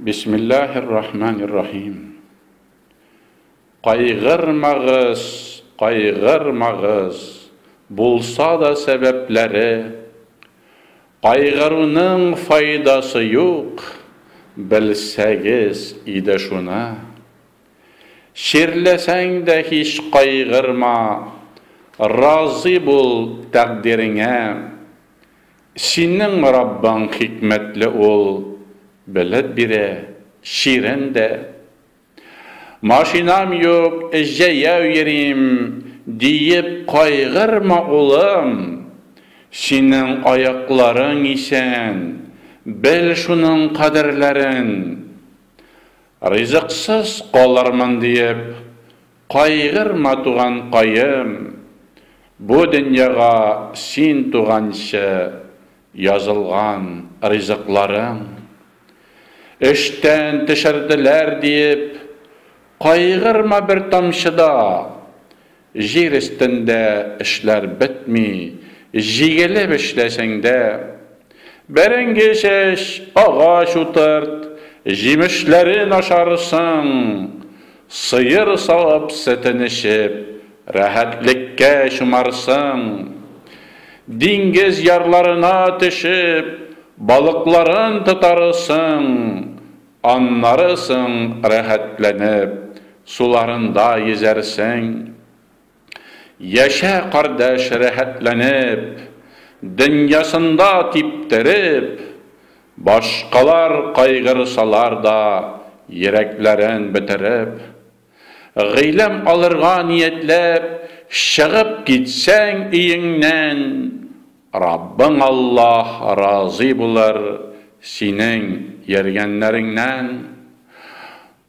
Бисмиллаһир-рахманир-рахим. Кайгырмагыз, кайгырмагыз, булса да сәбәпләре. Кайгыруның файдасы юк, белсәгез иде шуны. Чирләсәң дә һич кайгырма, разый бул тәкъдиреңә. Синең Раббың хикмәтле Ул белеп бирә, чирен дә. Машинам юк, җәяү йөрим, диеп кайгырма, улым. Синең аякларың исән, бел шуның кадерләрен. Ризыксыз калырмын диеп, Кайгырма, туганкаем, бу дөньяга син туганчы язылган ризыкларың. Эштән төшерделәр диеп, кайгырма бер тамчы да, җир өстендә эшләр бетми, җигелеп эшләсәң дә. Бәрәңге чәч, агач утырт, җимешләрен ашарсың. Сыер савып, сөтен эчеп, рәхәтлеккә чумарсың. Диңгез ярларына төшеп, балыкларын тотарысың. Аннары соң рәхәтләнеп, суларында йөзәрсең. Яшә, кардәш, рәхәтләнеп, Дөньясында типтереп, Башкалар кайгырсалар да, Йөрәкләрен бетереп. Гыйлем алырга ниятләп, Чыгып китсәң өеңнән, Раббың Аллаһ разый булыр Синең йөргәннәреңнән.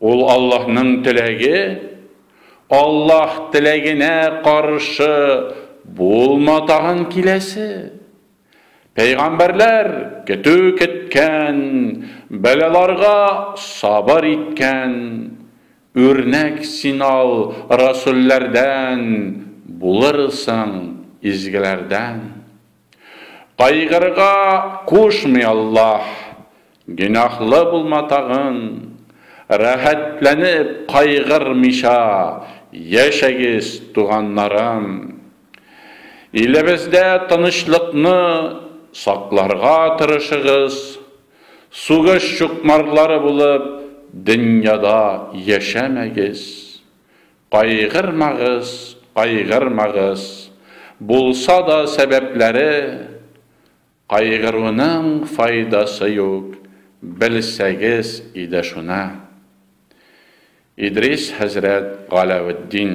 Ул Аллаһның теләге, Аллаһ теләгенә каршы булма тагын киләсе. Пәйгамбәрләр көтү кеткән, бәлаларга сабыр иткән. Үрнәк син ал расүлләрдән, булырсың изгеләрдән. Кайгырырга кушмый Аллаһ, гөнаһлы булма тагын, рәхәтләнеп кайгырмыйча яшәгез, туганнарым. Илебездә тынычлыкны сакларга тырышыгыз, сугыш чукмарлары булып дөньяда яшәмәгез. Кайгырмагыз, кайгырмагыз, булса да сәбәпләре, кайгыруның файдасы юк, белсәгез иде шуны. Идрис хәзрәт Галәветдин.